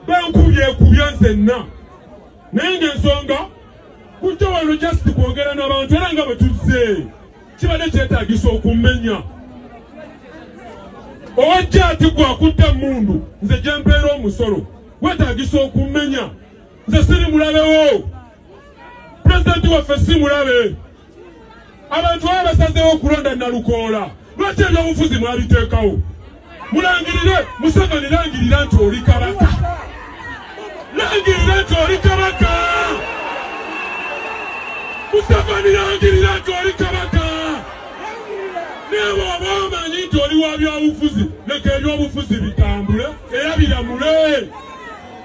bankubyekubya nzenna naye ngaensonga kujja wano just kwogera nabantu era nga bwetuzze kibadde kyetagisa okumenya owajja ati gwakutta mundu nze gyempeera omusolo wetagisa okumenya nze siri mulabewo pulezidenti waffe si mulabe abantu baba basazeewo okulonda nalukoola lwaki ebyobufuzi mwabiteekawo mulangirire museveni langirira nti oli kabaka langirira nti oli kabaka museveni langirira nti oli kabaka nebwoba omanyi nti oli wa byobufuzi leka ebyobufuzi bitambule era biramule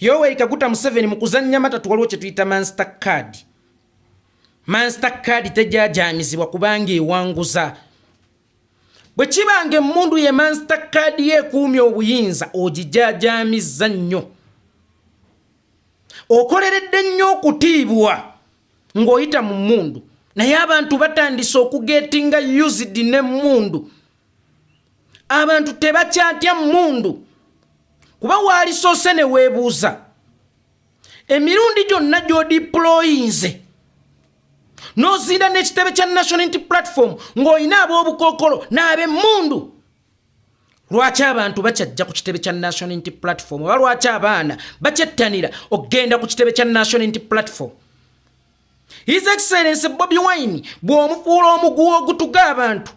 Yoweri Kaguta Museveni mu kuzannya matatu waliwo kye tuyita mansita kaadi. Mansita kaadi tejyajaamizibwa kubanga ewanguza. Bwe kiba nga emmundu ye mansita kaadi ye ekuumya obuyinza ogijaajaamizza nnyo. Okoleredde nnyo okutiibwa ng'oyita mu mmundu naye abantu batandise okugeetinga used n'emmundu. abantu tebakyatya mundu kuba waalisoose ne weebuuza emirundi gyonna gy'odiployinze n'ozinda n'ekitebe kya national inti platform ng'olina ab'obukookolo n'ab'emmundu lwaki abantu bakyajja ku kitebe kya national inti platform oba lwaki abaana bakyettanira okugenda ku kitebe kya national inti platform his excellence bobi wine bw'omukuula omuguwa ogutuga abantu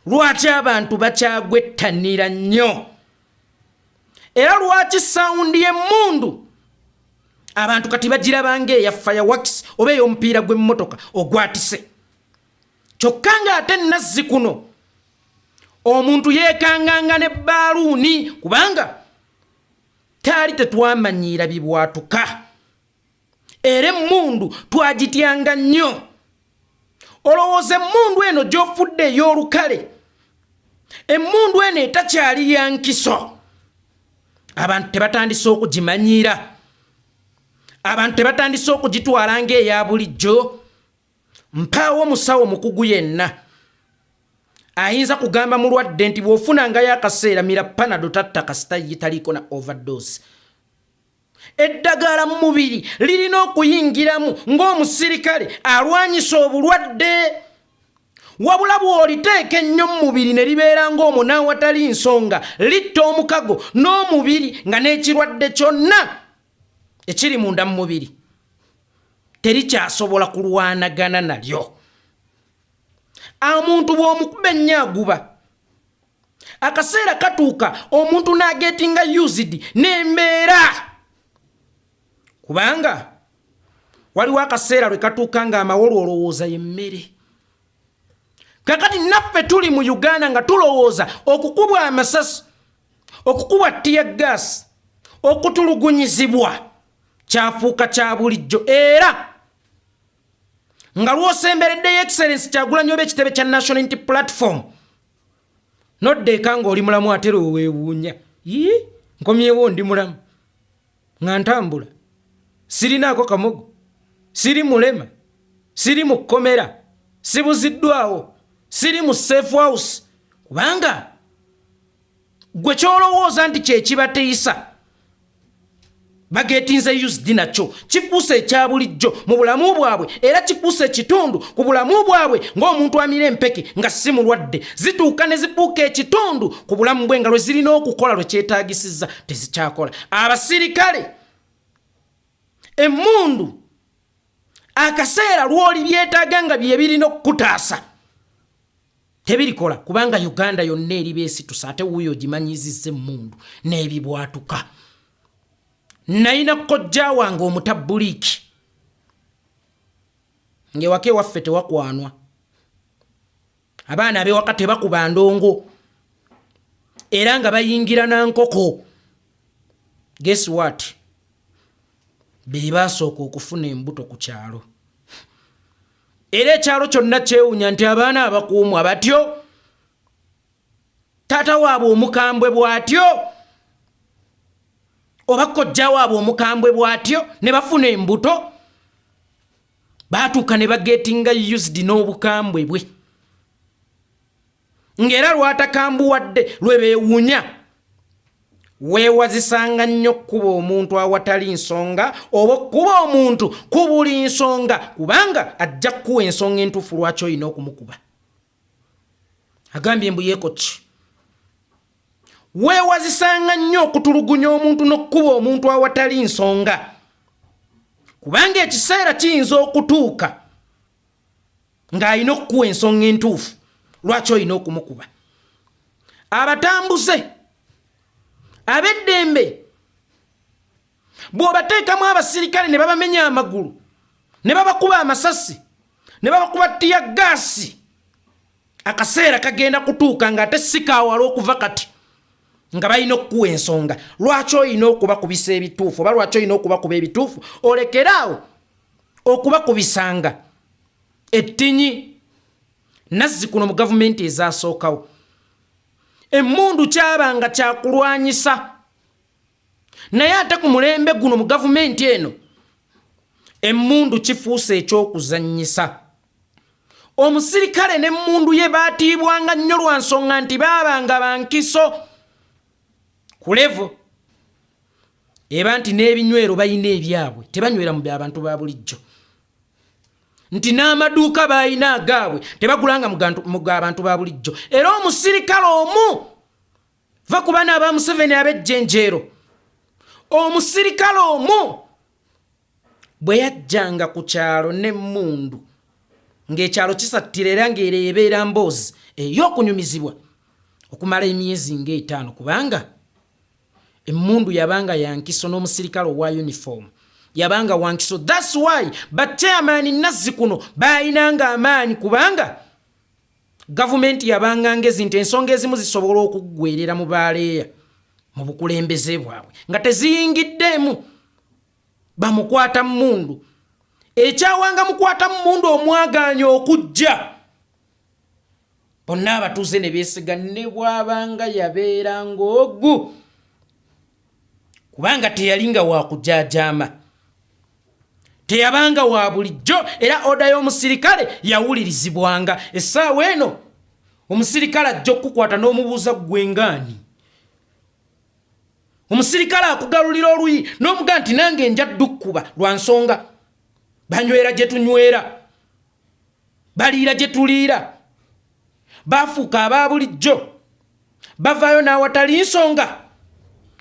lwaki abantu bakyagwettanira nnyo era lwaki sawundi y'emmundu abantu kati bagirabanga eya fireworks oba ey'omupiira gw'emmotoka ogwatise kyokka ng'ate nazzi kuno omuntu yeekanganga ne baaluuni kubanga taali tetwamanyiira bibwatuka era emmundu twagityanga nnyo olowooza emmundu eno gy'ofudde ey'olukale emmundu eno etakyali ya nkiso abantu tebatandise okugimanyiira abantu tebatandise okugitwala ng'eya bulijjo mpaawo omusawo mukugu yenna ayinza kugamba mulwadde nti bw'ofunangayo akaseera mira panado tatta kasita ye taliiko na overdose eddagala mu mubiri lirina okuyingiramu ng'omusirikale alwanyisa obulwadde wabula bw'oliteeka ennyo mu mubiri ne libeera ng'omunaawatali nsonga litta omukago n'omubiri nga n'ekirwadde kyonna ekiri munda mu mubiri terikyasobola kulwanagana nalyo omuntu bw'omukuba ennyo aguba akaseera katuuka omuntu nagetinga used nembeera kubanga waliwo akaseera lwe katuuka nga amawolu olowooza yemmere kakati naffe tuli mu uganda nga tulowooza okukubwa amasasi okukubwa tiya gaasi okutulugunyizibwa kyafuuka kya bulijjo era nga lwosembereddeyo excellence kyagulanyoba ekitebe kya national inti platform nodda eka nga oli mulamu atera owewuunya yii nkomyewo ndi mulamu nga ntambula sirinaako kamogo siri mulema siri mu kkomera sibuziddwawo siri mu safe house kubanga gwe kyolowooza nti kyekibateyisa bagetinze usd nakyo kifuusa ekya bulijjo mu bulamu bwabwe era kifuusa ekitundu ku bulamu bwabwe ng'omuntu amira empeke nga si mulwadde zituuka ne zifuuka ekitundu ku bulamu bwe nga lwe zirina okukola lwe kyetaagisizza tezikyakola abasirikale emmundu akaseera lw'oli byetaaga nga bye birina okukutaasa tebirikola kubanga uganda yonna eri besitusa ate wuuyo ogimanyiziza emmundu n'ebibwatuka nayina kojja wange omutabuliiki ng'ewaka ewaffe tewakwanwa abaana abewaka tebakuba ndongo era nga bayingira na nkoko guess what be basooka okufuna embuto ku kyalo era ekyalo kyonna kyewunya nti abaana abakuumwa batyo taata waabwe omukambwe bw'atyo oba kojja waabwe omukambwe bw'atyo ne bafuna embuto baatuuka ne bageetinga used n'obukambwe bwe ng'era lwatakambuwadde lwe beewunya weewazisanga nnyo okukuba omuntu awatali nsonga oba okukuba omuntu ku buli nsonga kubanga ajja kukuwa ensonga entuufu lwaki olina okumukuba agambye mbu yeeko ki weewazisanga nnyo okutulugunya omuntu n'okukuba omuntu awatali nsonga kubanga ekiseera kiyinza okutuuka ng'alina okukuwa ensonga entuufu lwaki olina okumukuba abatambuze ab'eddembe bw'obateekamu abasirikale ne babamenya amagulu ne babakuba amasasi ne babakuba ttiya gaasi akaseera kagenda kutuuka ng'ate sikaawala okuva kati nga balina okukuwa ensonga lwaki olina okubakubisa ebituufu oba lwaki olina okubakuba ebituufu olekere awo okubakubisanga ettinyi nazzi kuno mu gavumenti ezasookawo emmundu kyabanga kyakulwanyisa naye ate ku mulembe guno mu gavumenti eno emmundu kifuuse ekyokuzanyisa omusirikale n'emmundu ye baatiibwanga nnyo lwa nsonga nti baabanga bankiso ku levo eba nti n'ebinywero balina ebyabwe tebanywera mu byabantu ba bulijjo nti n'amaduuka baalina agaabwe tebagulanga mu gaabantu ba bulijjo era omusirikale omu va ku baana aba museveni ab'ejjenjeero omusirikale omu bwe yajjanga ku kyalo n'emmundu ng'ekyalo kisattira era ng'era ebeera mboozi ey'okunyumizibwa okumala emyezi ng'etaano kubanga Emmundu yabanga yankiso n'omusirikale owa uniform yabanga wankiso thats why bateamaani nazzi kuno baayinanga amaanyi kubanga gavumenti yabanga ngezi nti ensonga ezimu zisobola okuggwerera mu baaleeya mu bukulembeze bwabwe nga teziyingiddeemu bamukwata mmundu ekyawanga mukwata mmundu omwagaanya okujja bonna abatuuze ne beesiga ne bw'abanga yabeera ng'ogu kubanga teyali nga wakujajaama teyabanga wa bulijjo era oda y'omusirikale yawulirizibwanga essaawa eno omusirikale ajja okukukwata n'omubuuza ggwengaani omusirikale akugalulira oluyi n'omuga nti nange nja ddukkuba lwa nsonga banywera gye tunywera baliira gye tuliira baafuuka aba bulijjo bavaayo n'awatali nsonga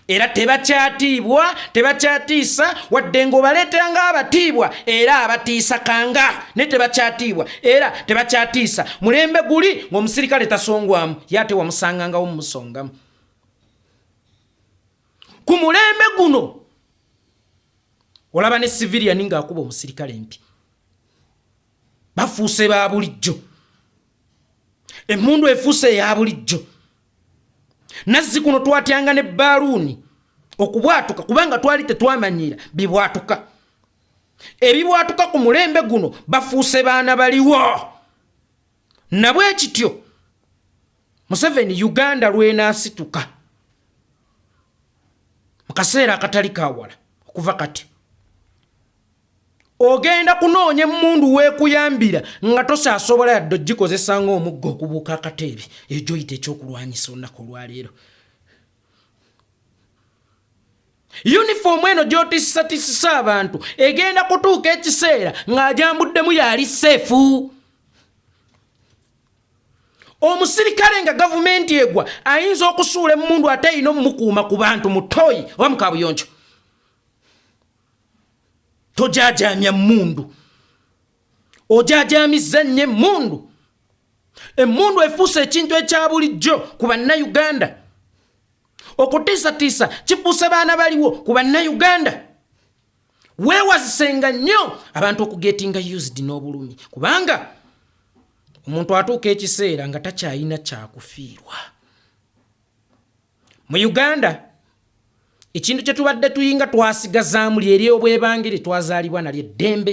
era tebakyatiibwa tebakyatiisa wadde ng'obaleetera ng'abatiibwa era abatiisa kanga naye tebakyatiibwa era tebakyatiisa mulembe guli ng'omusirikale tasongwamu ye ate wamusangangawo mumusongamu ku mulembe guno olaba ne civilian nga akuba omusirikale empi bafuuse ba bulijjo emmundu efuuse eya bulijjo nazzi kuno twatyanga ne baaluuni okubwatuka kubanga twali tetwamanyiira bibwatuka ebibwatuka ku mulembe guno bafuuse baana baliwo nabwe kityo museveni uganda lwenasituka mukaseera akatali kawala okuva kati ogenda kunoonya emundu wekuyambira nga tosaasobola yadde ogikozesa nga omugga okubuuka akateebe ejoyita ekyokulwanyisa olunaku olwaleero yunifoomu eno gyotisatisisa abantu egenda kutuuka ekiseera ng'ajambuddemu yali seefu omusirikale nga gavumenti egwa ayinza okusuula emundu ate ayina omumukuuma ku bantu mutoyi oba mukabuyonjo tojajamya mundu ojajamizza nnyo emundu emundu efuuse ekintu ekya bulijjo ku bannayuganda okutiisatiisa kifuuse baana baliwo ku bannayuganda weewazisenga nnyo abantu okugetinga used n'obulumi kubanga omuntu atuuka ekiseera nga takyalina kyakufiirwa mu uganda ekintu kye tubadde tuyinga twasigazaamu lyeri obwebange lye twazaalibwa nalyo eddembe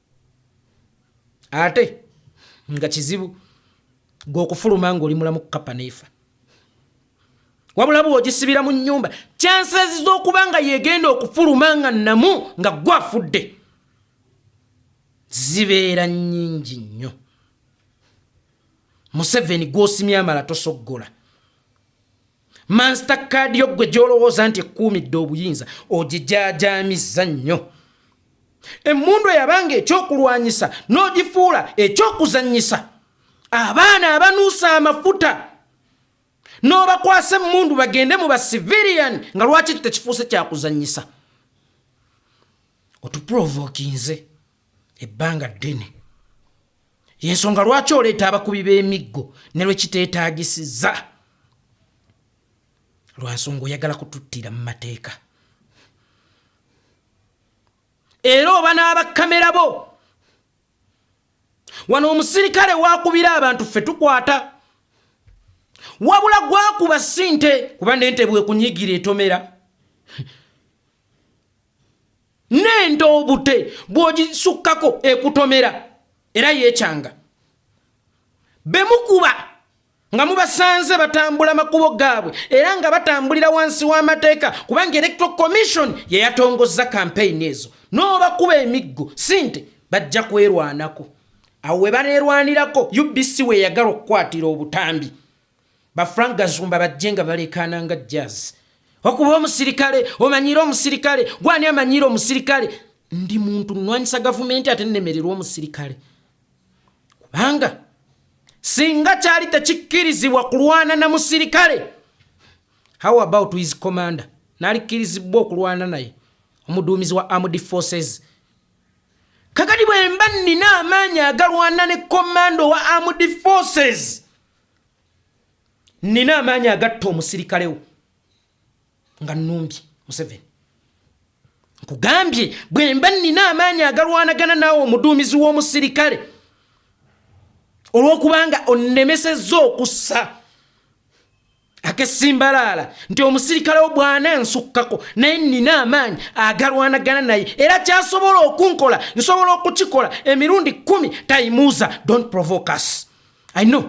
ate nga kizibu gweokufuluma ngaoli mulamu kukapa neefa wabula bweogisibira mu nyumba chances zokuba nga yegenda okufuluma nga namu nga gwafudde zibeera nyingi nnyo museveni gwosimya amala tosoggola mansita kaadi yo ggwe gy'olowooza nti ekkuumidde obuyinza ogijaajamizza nnyo emmundu eyabanga ekyokulwanyisa n'ogifuula ekyokuzannyisa abaana abanuusa amafuta n'obakwasa emmundu bagende mu basiviliyani nga lwaki tekifuuse kyakuzannyisa otuprovokinze ebbanga ddene yensonga lwaki oleeta abakubi b'emiggo ne lwekiteetaagisiza lwa nsonga oyagala kututtira mu mateeka era oba n'abakkamera bo wano omusirikale wakubira abantu ffe tukwata wabula gwakuba sinte kuba nente bwekunyigira etomera n'ente obute bw'ogisukkako ekutomera era yeecanga be mukuba nga mubasanze batambula makubo gaabwe era nga batambulira wansi w'amateeka kubanga electoral commission ye yatongozza kampeyini ezo n'obakuba emiggo si nti bajja kwerwanako awo we baneerwanirako ubc we yagala okukwatira obutambi ba frank gazumba bajje nga balekaana nga jazz okuba omusirikale omanyiire omusirikale gwani amanyiire omusirikale ndi muntu nnwanyisa gavumenti ate nnemererwa omusirikale kubanga singa kyali tekikkirizibwa kulwana na musirikale how about his commander nalikkirizibwa okulwana naye omuduumizi wa armed forces kakati bwemba nnina amaanyi agalwana ne komanda owa armed forces nina amaanyi agatta omusirikalewo nga numbye museveni nkugambye bwemba nina amaanyi agalwanagana naawe omuduumizi w'omusirikale olw'okubanga onnemesezza okussa akesimbalaala nti omusirikale wo bwana nsukkako naye nina amaanyi agalwanagana naye era kyasobola okunkola nsobola okukikola emirundi kumi tayimuuza don't provoke us i know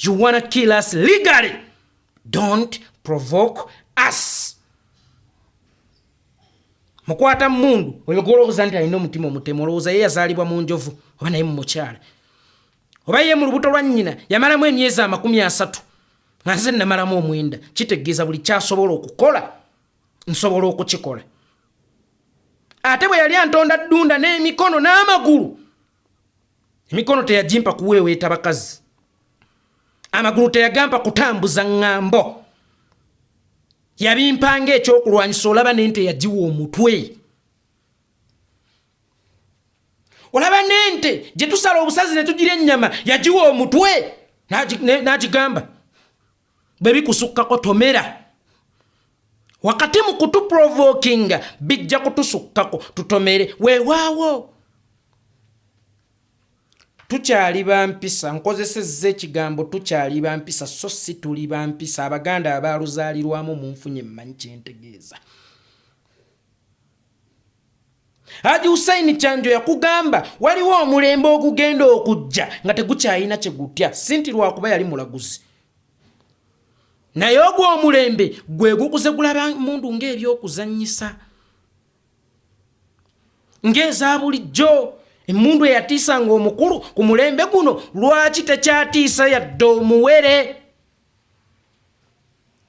you wanna kill us legally don't provoke us mukwata mundu oyo gwolowooza nti alina omutima omutemu olowooza ye yazaalibwa mu njovu oba naye mu mukyala oba ye mu lubuto lwa nnyina yamalamu emyezi amakumi asatu nga nze namalamu omwenda kitegeeza buli kyasobola okukola nsobola okukikola ate bwe yali antonda ddunda n'emikono n'amagulu emikono teyagimpa kuweeweeta bakazi amagulu teyagampa kutambuza ŋŋambo yabimpanga ekyokulwanyisa olaba nente yagiwa omutwe olaba nente gyetusala obusazi netugira ennyama yagiwa omutwe n'agigamba bwe bikusukkako tomera wakati mu kutuprovokinga bijja kutusukkako tutomere weewaawo tukyali bampisa nkozesezza ekigambo tukyali bampisa so si tuli bampisa abaganda abaaluzaalirwamu munfunye mmanyi kyentegeeza haji husaini kyanjo yakugamba waliwo omulembe ogugenda okujja nga tegukyalina kyegutya sinti lwakuba yali mulaguzi naye ogwo omulembe gwe gukuze gulaba mundu ngaebyokuzanyisa ngaeza bulijjo emundu eyatiisa nga omukulu ku mulembe guno lwaki tekyatiisa yadde omuwere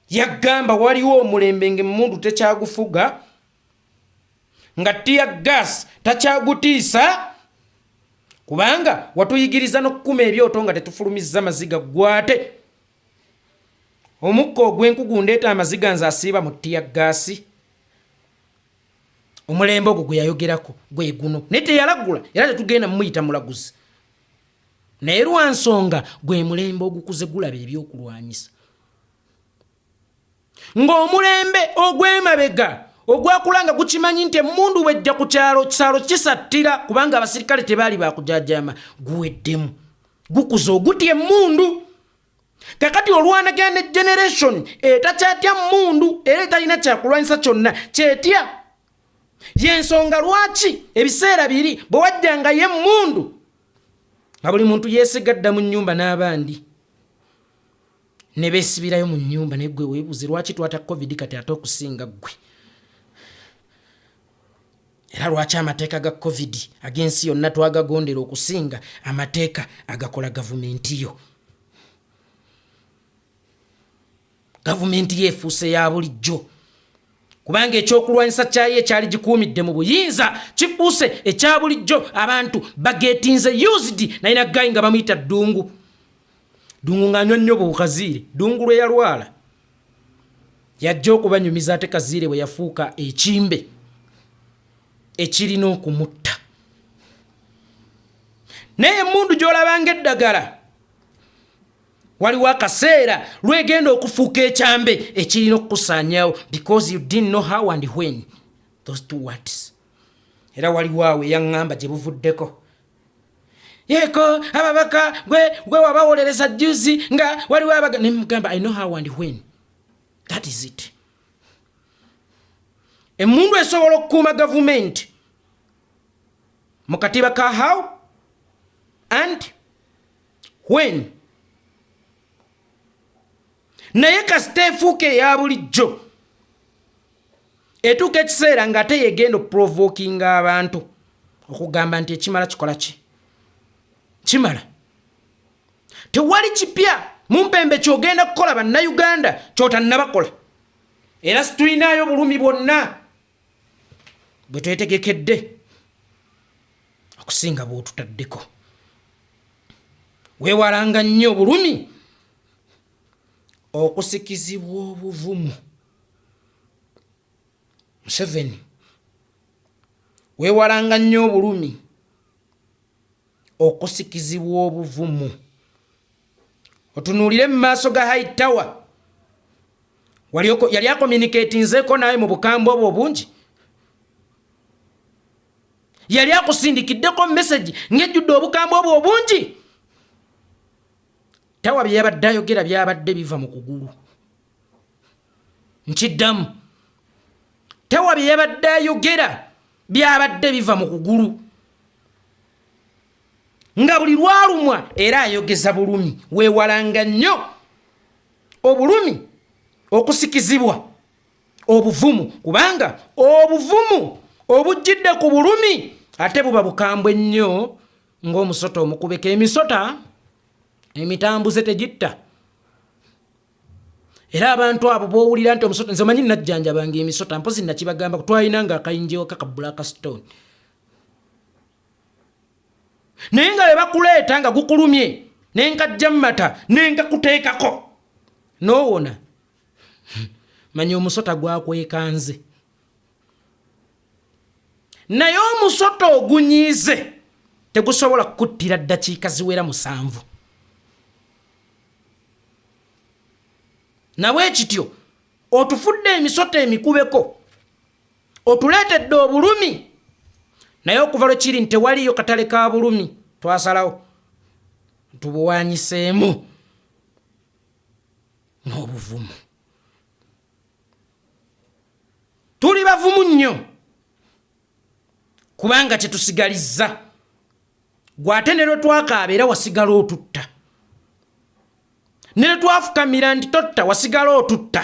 yagamba waliwo omulembe ngaemmundu tekyagufuga nga tiya gas takyagutiisa kubanga watuyigiriza n'okukuma ebyoto nga tetufulumizza maziga gwate omukka ogw'enkugu ndeeta amaziga nze asiiba mu tiya gaasi omulembe ogwo gwe yayogerako gwe guno naye teyalagula era tetugenda mumuyita mulaguzi naye lwa nsonga gwe mulembe ogukuze gulaba ebyokulwanyisa ng'omulembe ogw'emabega ogwakula nga gukimanyi nti emundu bwejja ku kyalo kisalo kisattira kubanga abasirikale tebaali bakujajama guweddemu gukuza ogutya emundu kakati olwanagaa ne generation etakyatya mundu era etalina kyakulwanyisa kyonna kyetya yensonga lwaki ebiseera biri bwe wajjangayo emmundu nga buli muntu yeesiga dda mu nnyumba n'abandi ne beesibirayo mu nnyumba naye gwe weebuuze lwaki twata covid kati ate okusinga ggwe era lwaki amateeka ga covid ag'ensi yonna twagagondera okusinga amateeka agakola gavumenti yo gavumenti ye efuuse ya bulijjo kubanga ekyokulwanyisa kyayo ekyali gikuumidde mu buyinza kifuuse ekya bulijjo abantu bagetinze usd naye naggayi nga bamuyita ddungu ddungu ng'anywa nnyo buukaziire ddungu lwe yalwala yajja okubanyumiza ate kaziire bwe yafuuka ekimbe ekirina okumutta naye emundu gy'olabanga eddagala waliwo akaseera lwegenda okufuuka ekyambe ekirina okukusaanyawo because you didn't know how and when those two words era waliwo awo eyaŋŋamba gye buvuddeko yeko ababaka gwe gwe wabawolereza juzi nga waliwo abaga ne mugamba i know how and when that is it emundu esobola okukuuma gavumenti mu katiba ka how and when naye kasita efuuka eya bulijjo etuuka ekiseera nga ate yegenda okuprovokinga abantu okugamba nti ekimala kikola ki kimala tewali kipya mumpembe kyogenda kukola bannayuganda kyotanabakola era situlinayo bulumi bwonna bwe twetegekedde okusinga bw'otutaddeko weewalanga nnyo obulumi okusikizibwa obuvumu museveni weewalanga nnyo obulumi okusikizibwa obuvumu otunuulire mu maaso ga high tower yali akomunikatinzeeko naawe mu bukambwe obwo obungi yali akusindikiddeko mesagi ngejjudde obukambwe obwo obungi tawa bye yabadde ayogera byabadde biva mu kugulu nkiddamu tawa bye yabadde ayogera byabadde biva mu kugulu nga buli lwalumwa era ayogeza bulumi weewalanga nnyo obulumi okusikizibwa obuvumu kubanga obuvumu obujjidde ku bulumi ate buba bukambwe nnyo ng'omusota omukubeka emisota emitambuze tegitta era abantu abo bowulira nti omusota nze manyi najjanjabanga emisota mpozi nakibagamba twalina nga akayinjewo kakabula ka stone naye nga bebakuleeta nga gukulumye nenkajja mumata nenkakuteekako nowona manya omusota gwakwekanze naye omusota ogunyiize tegusobola kukuttira ddakiika ziwera musanvu nabwe kityo otufudde emisota emikubeko otuleetedde obulumi naye okuva lwe kiri nti tewaliyo katale ka bulumi twasalawo tubuwanyiseemu n'obuvumu tuli bavumu nnyo kubanga kyetusigalizza gwe ate ne lwe twakaaba era wasigala otutta ne lwe twafukamira nti totta wasigala otutta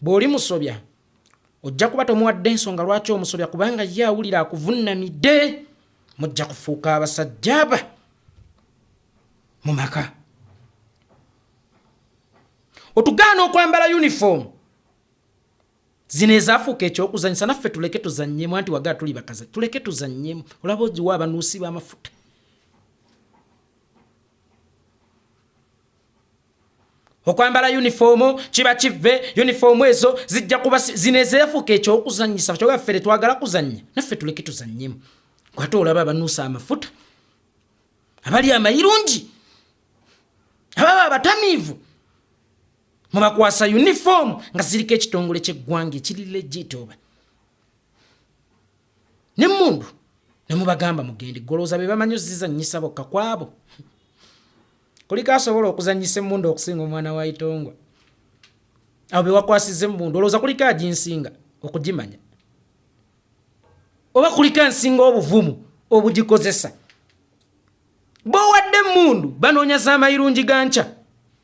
bw'oli musobya ojja kuba tomuwadde ensonga lwaki omusobya kubanga ye awulira akuvunnamidde mujja kufuuka abasajjaaba mu maka otugaana okwambala yunifoomu zino ezafuuka ekyokuzanyisa naffe tuleke tuzanyemu anti wagaa tuli bakaza tuleke tuzanyemu olaba ogiwa abanuusi b'amafuta okwambala yunifoomu kiba kivve yunifoomu ezo zijja kuba zinezeefuuka ekyokuzanyisa kyoba ffe tetwagala kuzannya naffe tuleke tuzannyemu kwate olaba abanuusa amafuta abali amayirungi ababa abatamiivu mubakwasa yunifoomu nga ziriko ekitongole kyeggwanga ekiri legit oba nemundu nemubagamba mugende goloza bebamanyi ozizanyisa bokka kwabo kuliko asobola okuzanyisa emundu okusinga omwana wa itongwa abo bewakwasiza emundu oloza kuliko aginsinga okugimanya oba kuliko ansinga obuvumu obugikozesa bowadde emmundu banoonya za mayirungi ga nkya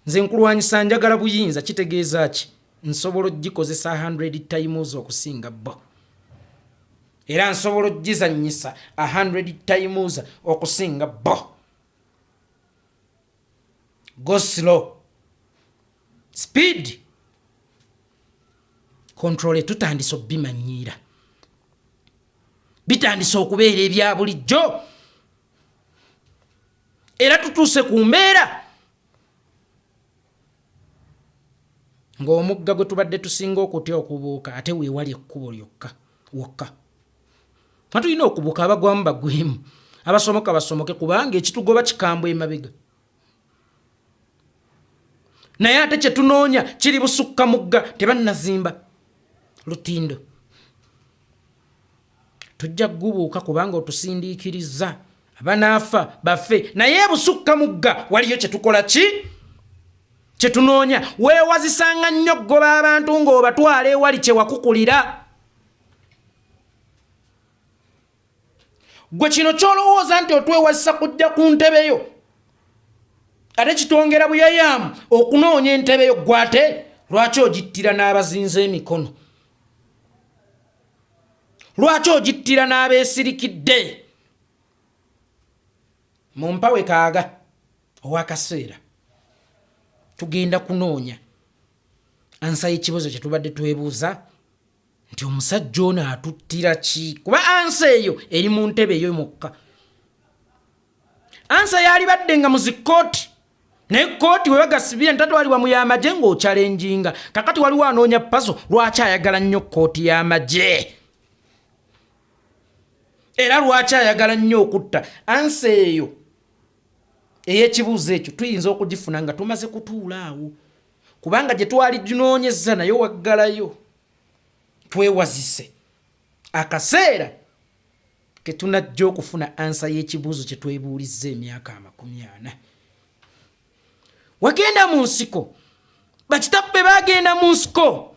nze nkulwanyisa njagala buyinza kitegeeza ki nsobola ogikozesa 100 times okusinga bo era nsobola ogizanyisa 100 times okusinga bo go slow speed controle tutandise obimanyiira bitandise okubeera ebya bulijjo era tutuuse ku mbeera ng'omugga gwe tubadde tusinga okutya okubuuka ate weewali ekkubo lyokka wokka nga tulina okubuuka abagwamu bagwemu abasomoka basomoke kubanga ekitugoba kikambwe emabega naye ate kyetunoonya kiri busukka mugga tebannazimba lutindo tujja kugubuuka kubanga otusindiikiriza abanaafa bafe naye busukka mugga waliyo kyetukola ki kyetunoonya weewazisanga nnyo okugoba abantu ng'obatwala ewali kyewakukulira gwe kino kyolowooza nti otwewazisa kujja ku ntebe yo ate kitwongera buyayaamu okunoonya entebe yo gwe ate lwaki ogittira n'abazinza emikono lwaki ogittira n'abeesirikidde mu mpawe kaaga owakaseera tugenda kunoonya ansa y'ekibuzo kye tubadde twebuuza nti omusajja ono atuttira ki kuba ansa eyo eri mu ntebe eyo mukka ansa yalibadde nga muzikkooti naye kkooti webagasibira ntatwalibwa mu yamagye ng'okyalenjinga kakati waliwo anoonya pazo lwaki ayagala nnyo kkooti y'amagye era lwaki ayagala nnyo okutta ansa eyo ey'ekibuuzo ekyo tuyinza okugifuna nga tumaze kutuula awo kubanga gye twali tunoonyezza nayo waggalayo twewazise akaseera ke tunajja okufuna ansa y'ekibuuzo kye twebuulizza emyaka amakumi ana wagenda mu nsiko bakitapu be bagenda mu nsiko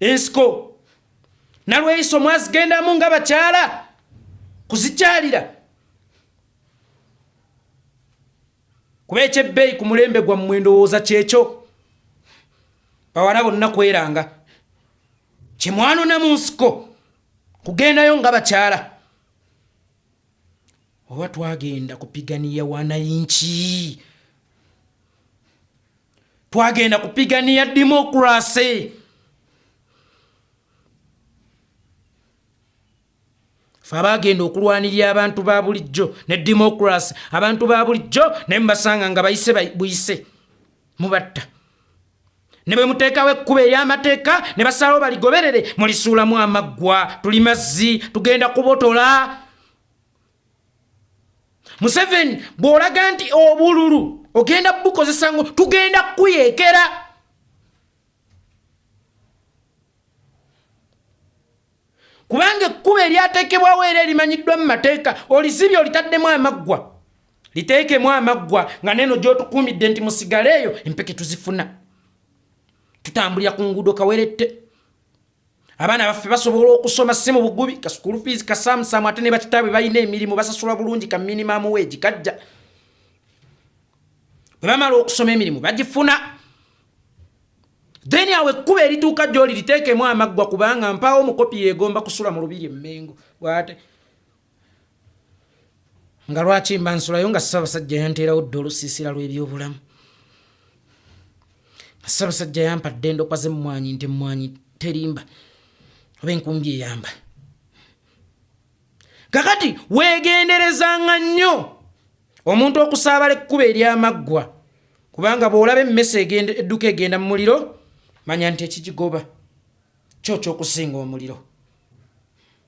ensiko nalweyiso mwazigendamu nga bakyala kuzikyalira kuba ekyebbeeyi ku mulembe gwammwe endowooza kyekyo bawala bonna kweranga kyemwanona mu nsiko kugendayo nga bakyala oba twagenda kupiganiya wanayinki twagenda kupiganiya demokrasi fe abagenda okulwanirira abantu ba bulijjo ne demokrasi abantu ba bulijjo naye mubasanga nga bayise buyise mubatta ne bwe muteekawo ekkuba ery'amateeka ne basalawo baligoberere mulisuulamu amaggwa tuli mazzi tugenda kubotola museveni bw'olaga nti obululu ogenda bukozesa ngo tugenda kukuyekera kubanga ekkuba eryateekebwawo era erimanyiddwa mu mateeka olizibye olitaddemu amaggwa liteekemu amaggwa nga neeno gy'otukuumidde nti musigaleeyo empeke tuzifuna tutambulira ku nguudo kawerette abaana baffe basobola okusoma si mu bugubi ka school fees ka samsamu ate ne bakitaabwe balina emirimu basasula bulungi ka minimum wage kajja bwe bamala okusoma emirimu bagifuna then awo ekkuba erituuka gyoli liteekemu amaggwa kubanga mpaawo omukopi yeegomba kusula mu lubiri emmengo bwate nga lwaki mba nsulayo nga ssabasajja yanteerawo dda olusiisira lw'ebyobulamu nga ssabasajja yampadde endokwa z'emmwanyi nti emmwanyi terimba oba enkumbi eyamba kakati weegenderezanga nnyo omuntu okusaabala ekkuba eryamaggwa kubanga bw'olaba emmese edduka egenda mu muliro manya nti ekigigoba kyo kyokusinga omuliro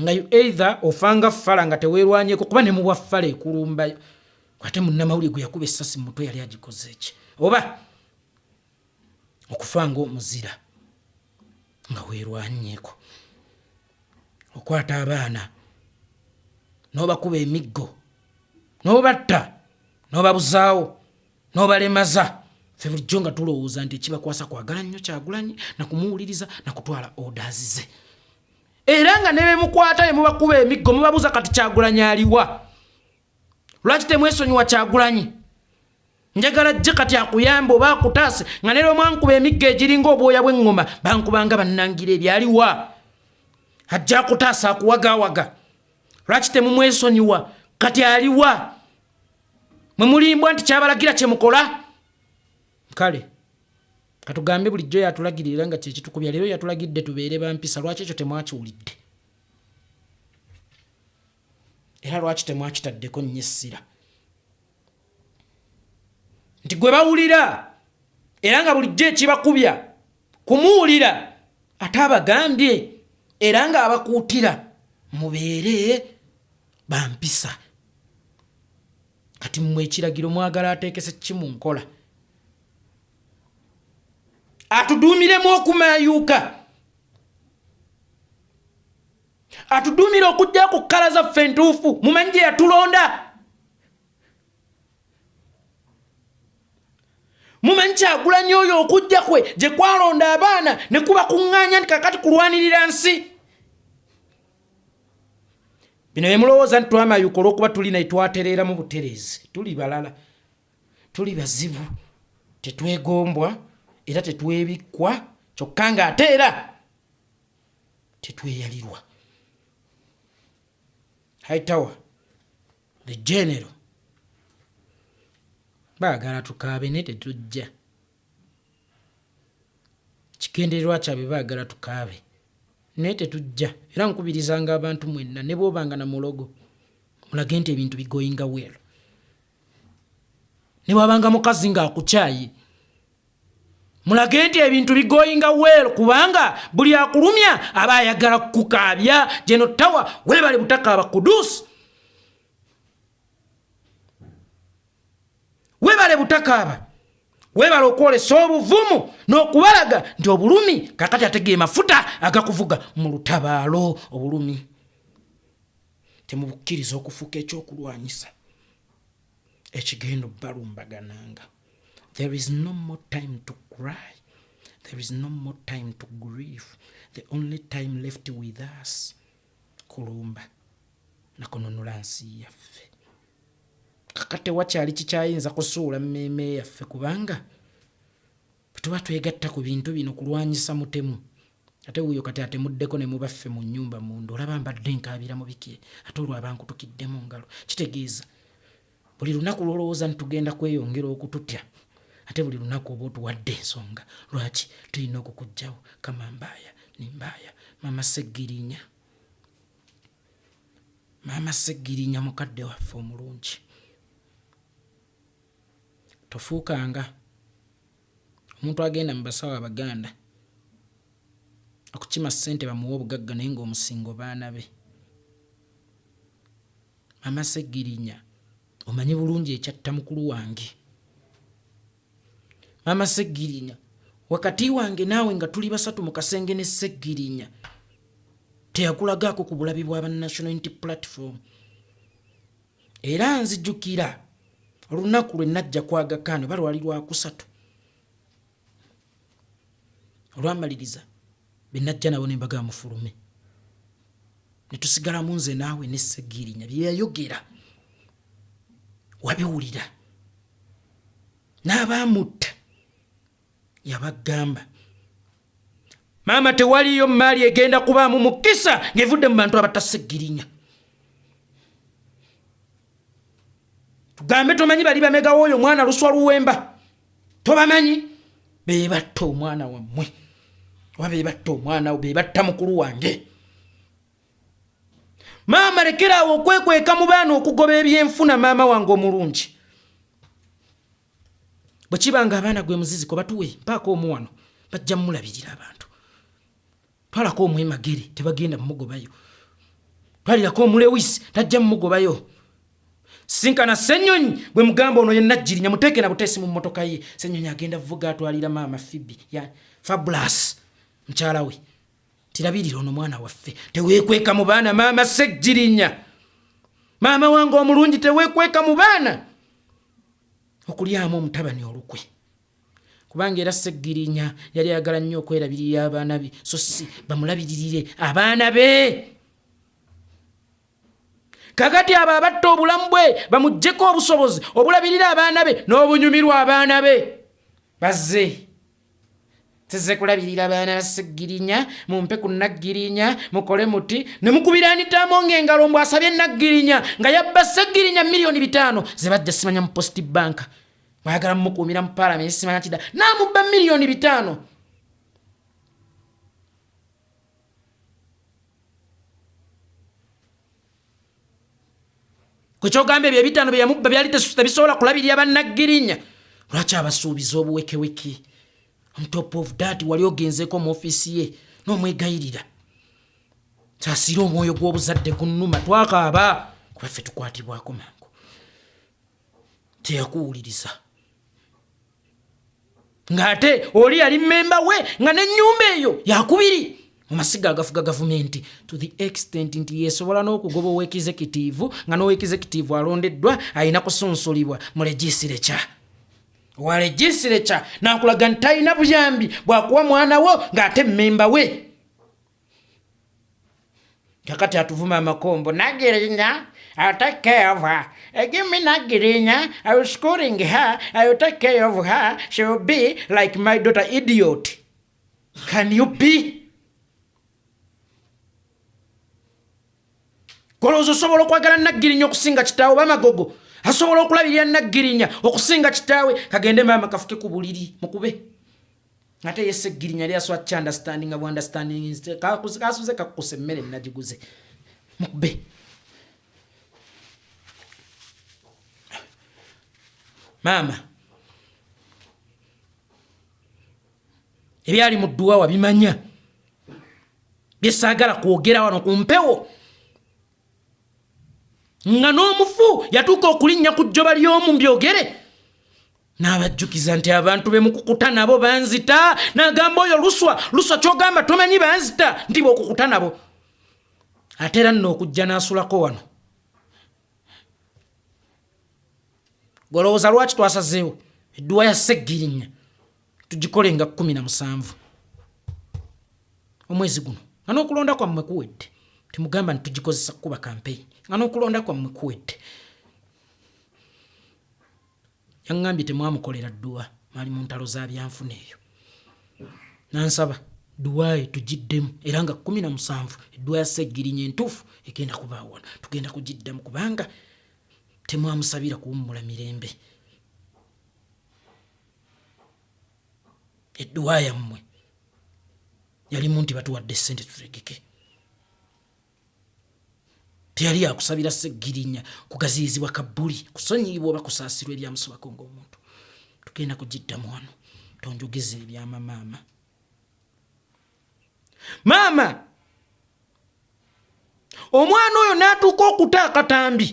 nga you either ofanga fala nga tewerwanyeko kuba ne mubwa fala ekulumba kwate munamawuli gwe yakuba esasi mutwe yali agikoze eki oba okufanga omuzira nga werwanyeko okwata abaana nobakuba emiggo nobatta nobabuzaawo nobalemaza fe bulijjo nga tulowooza nti ekibakwasa kwagala nnyo kyagulanyi nakumuwuliriza nakutwala odas ze era nga nebemukwata emubakuba emiggo mubabuuza kati kyagulanyi aliwa lwaki temwesonyiwa kyagulanyi njagala jje kati akuyambe oba akutaase nga nera omwankuba emiggo egiringa obwoya bweŋŋoma bankubanga bannangira ebyaliwa ajja akutaasa akuwagawaga lwaki temumwesonyiwa kati aliwa mwe mulimbwa nti kyabalagira kyemukola kale katugambe bulijjo yatulagirira nga kyekitukubya leero yatulagidde tubeere bampisa lwaki ekyo temwakiwulidde era lwaki temwakitaddeko nnyo essira nti gwe bawulira era nga bulijjo ekibakubya kumuwulira ate abagambye era ng'abakuutira mubeere bampisa kati mmwe ekiragiro mwagala ateekese ki mu nkola atuduumiremu okumayuuka atuduumire okujja ku kkala zaffe entuufu mumanyi gye yatulonda mumanyi kyagulanyi oyo okujja kwe gye kwalonda abaana ne kubakuŋŋaanya nti kakati kulwanirira nsi bino bemulowooza nti twamayuka olwokuba tuli naye twatereeramu butereezi tuli balala tuli bazibu tetwegombwa era tetwebikkwa kyokka nga ate era tetweyalirwa hightower the general baagala tukaabe ne tetujja kigendererwa kyabwe baagala tukaabe naye tetujja era nkubirizanga abantu mwenna ne bwobanga na mulogo mulage nti ebintu bigoinga wel ne bwabanga mukazi ng'akukyayi mulage nti ebintu bigoinga wel kubanga buli akulumya aba ayagala kukukaabya geno tawa webale butakaaba kudusi webale butakaaba webale okwolesa obuvumu n'okubalaga nti obulumi kakati ategeye mafuta agakuvuga mu lutabaalo obulumi temubukkiriza okufuuka ekyokulwanyisa ekigenda obalumbagananga there is no more time to cry there is no more time to grieve the only time left with us kulumba nakununula nsi yaffe kaka tewakyali kikyayinza kusuula mmeeme yaffe kubanga bwetuba twegatta ku bintu bino kulwanyisa mutemu ate wuyo kati atemuddeko ne mubaffe mu nnyumba munda olaba mbadde nkaabira mu biki ate olwabankutukiddemu ngalo kitegeeza buli lunaku lwolowooza nti tugenda kweyongera okututya ate buli lunaku oba otuwadde ensonga lwaki tulina okukugjawo kamambaaya nimbaaya mama seggirinya mama seggirinya mukadde waffe omulungi tofuukanga omuntu agenda mu basawo abaganda okukima ssente bamuwa obugagga naye ngaomusingo baana be mama segirinya omanyi bulungi ekyatta mukulu wange mama segirinya wakati wange naawe nga tuli basatu mu kasenge ne segirinya teyakulagaako ku bulabi bwa ba national unity platform era nzijukira olunaku lwe najja kwagakaano oba lwali lwakusatu olwamaliriza be najja nabo nembaga mufulume netusigalamu nze naawe nesegirinya byeyayogera wabiwulira n'abaamutta yabagamba maama tewaliyo maali egenda kubaamu mukisa ngevudde mu bantu abatasigirinya tugambe tomanyi bali bamegawo oyo omwana luswa luwemba tobamanyi bebatta omwana wammwe oba bebatta omwana bebatta mukulu wange maama lekeraawo okwekweka mu baana okugoba ebyenfuna maama wange omulungi bwekiba nga abaana gwe muziziko batuwe mpaako omu wano bajja mulabirira abantu twalako omwemagere tebagenda mumugobayo twalirako omulewis tajja mumugobayo sinkana senyonyi gwe mugamba ono yenajjirinya muteekera buteesi mu mmotoka ye senyonyi agenda vuga atwalira maama fibi ya fabulas mukyala we tirabirira ono mwana waffe tewekweka mu baana maama sejjirinya maama wange omulungi tewekweka mu baana okulyamu omutabani olukwe kubanga era seggirinya yali ayagala nnyo okwerabirira abaana be so si bamulabiririre abaana be kakati abo abatta obulamu bwe bamugjeko obusobozi obulabirira abaana be n'obunyumirwa abaana be bazze size kulabirira baana basigirinya mumpe ku naggirinya mukole muti ne mukubira anitaamo ng'engalo mbu asabye naggirinya nga yabba segirinya miliyoni bitaano ze bajja simanya mu post bank mwayagala mumukuumira mu paalamenti simanya kida naamubba miliyoni bitaano kwekyogamba ebyo ebitaano byeyamubba byali tebisobola kulabirira bannaggirinya lwaki abasuubiza obuwekeweki on top of dat wali ogenzeko mu ofiisi ye n'omwegayirira kyasiira omwoyo gw'obuzadde ku nnuma twakaaba kuba ffe tukwatibwako mangu teyakuwuliriza ng'ate oli yali mmemba we nga n'ennyumba eyo yakubiri mu masiga agafuga gavumenti to the extent nti yesobola n'okugoba owekizekitiivu nga n'owekizekitiivu alondeddwa alina kusunsulibwa mu legisire kya wa legisire kya n'akulaga nti talina buyambi bwakuwa mwana wo ng'ate mmemba we kakati atuvuma amakombo nagirinya I'll take care of her. Uh, give me Nagirinya. I will schooling her. I will take care of her. She will be like my daughter, idiot. Can you be? Kolozo sobola okwagala Nagirinya okusinga kitaawe bamagogo. Asobola okulabirira Nagirinya okusinga kitaawe. Kagende mama kafuke ku buliri mukube. ate ye seggirinya yali aswa ki understandinga bu understanding kasuze kakkusa emmere nagiguze mukube maama ebyali mu dduwa wabimanya byesaagala kwogera wano ku mpewo nga n'omufu yatuuka okulinnya ku jjoba ly'omu mbyogere n'abajjukiza nti abantu be mukukuta nabo banzita n'agamba oyo luswa luswa ky'ogamba tomanyi banzita nti bw'okukuta nabo ate era nno okujja n'asulako wano golowooza lwaki twasazeewo edduwa ya seggirinya tugikole nga kumi na musanvu omwezi guno nga n'okulonda kwammwe kuwedde temugamba nti tugikozesa kukuba kampeyini nga n'okulonda kwammwe kuwedde yaŋŋambye temwamukolera dduwa mwali mu ntalo za byanfuna eyo nansaba duwaayo tugiddemu era nga kumi na musanvu edduwa ya seggirinya entuufu egenda kubaawona tugenda kugiddamu kubanga temwamusabira kuwummula mirembe edduwa yammwe yalimu nti batuwadde sente tutegeke teyali yakusabira segirinya kugaziyizibwa kabuli kusonyiyibwa oba kusaasirwa ebyamusibako ngaomuntu tugenda kugiddamu wano tonjogeza ebyama maama maama omwana oyo n'atuuka okuta akatambi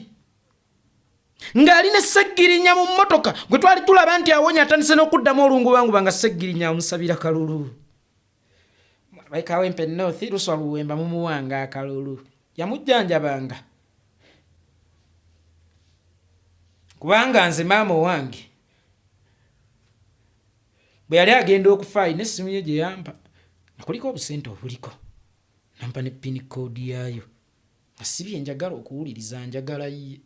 ng'ali ne seggirinya mu mmotoka gwe twali tulaba nti awonye atandise n'okuddamu olungubanguba nga seggirinya amusabira kalulu baikawempe north luswa luwemba mumuwanga akalulu yamujjanjabanga kubanga nze maama owange bwe yali agenda okufa alina essimu ye gye yampa nakuliko obusente obuliko nampa ne pini koodi yaayo si bye njagala okuwuliriza njagala ye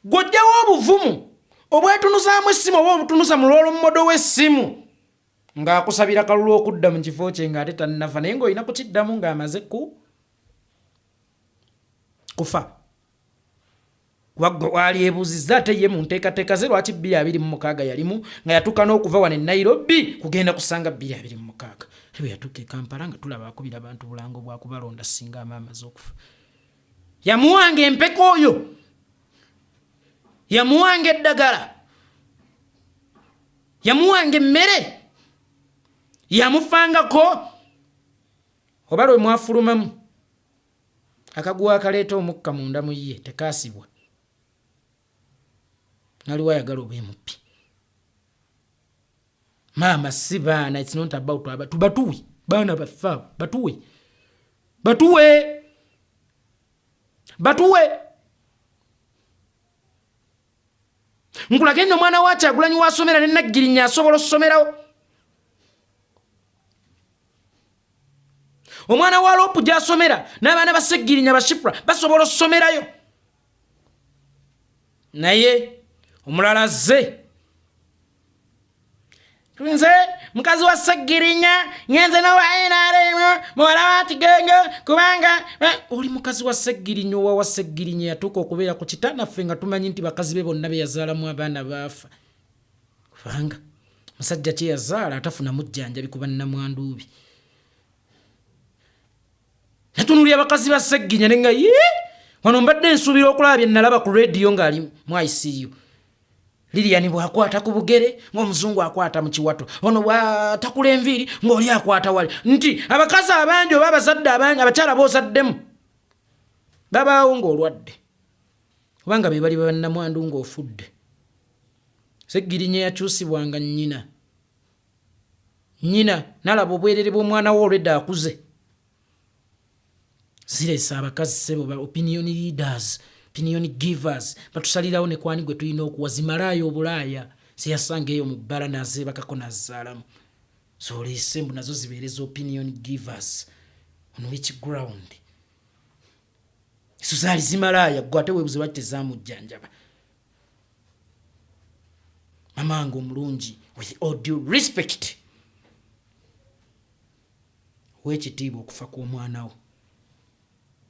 gw'ojjawo obuvumu obwetunuzaamu essimu oba obutunuza mu lw'olummodo w'essimu ng'akusabira kalulu okudda mu kifo kye ng'ate tannava naye ng'olina kukiddamu ng'amaze ku kufa kuba gwe waalyebuuzizza ate ye mu nteekateeka ze lwaki bbiri abiri mu mukaaga yalimu nga yatuuka n'okuva wano e nairobi kugenda kusanga bbiri abiri mu mukaaga te bwe yatuuka e kampala nga tulaba akubira abantu bulango bwa kubalonda singa amaamaze okufa yamuwanga empeka oyo yamuwanga eddagala yamuwanga emmere yamufangako oba lwe mwafulumamu akaguwa akaleeta omukka munda mu ye tekaasibwa naliwo ayagala oba emuppi maama si baana its not about abatu batuwe baana baffe abo batuwe batuwe batuwe nkulage nno omwana wa kyagulanyi wasomera ne naggirinya asobola okusomerawo omwana wa lopu gyasomera n'abaana baseggirinya bashifura basobola okusomerayo naye omulala azze nze mukazi wa ssegirinya ngenze nowa nrm muwala wa kigengo kubanga eh, oli mukazi wa ssegirinya owa wa ssegirinya yatuuka okubeera ku kita naffe nga tumanyi nti bakazi be bonna beyazaalamu abaana baafa kubanga musajja kyeyazaala atafuna mujjanjabi kuba namwanduubi natunuli abakazi ba ssegirinya nenga ye wano mbadde nsuubira okulaba bye nalaba ku rediyo ng'ali mu iciu liliyani bwakwata ku bugere ngaomuzungu akwata mu kiwato ono bwatakula enviiri ngaoli akwata wali nti abakazi abangi oba abazadde abangi abakyala bozaddemu babaawo ngaolwadde obanga bebali babannamwandu ngaofudde segirinya yakyusibwanga nyina nyina nalaba obwerere bwomwana wo olwedde akuze ziresa abakazi sebo ba opinion leaders opinion givers batusalirawo ne kwani gwe tulina okuwa zimalaaya obulaaya zeyasanga eyo mu bbala nazeebakako nazaalamu zoleese mbu nazo zibeereza opinion givers on which ground ezo zaali zimalaaya gwe ate webuze lwaki tezamujjanjaba mamange omulungi with all due respect wekitiibwa okufa kw'omwana wo.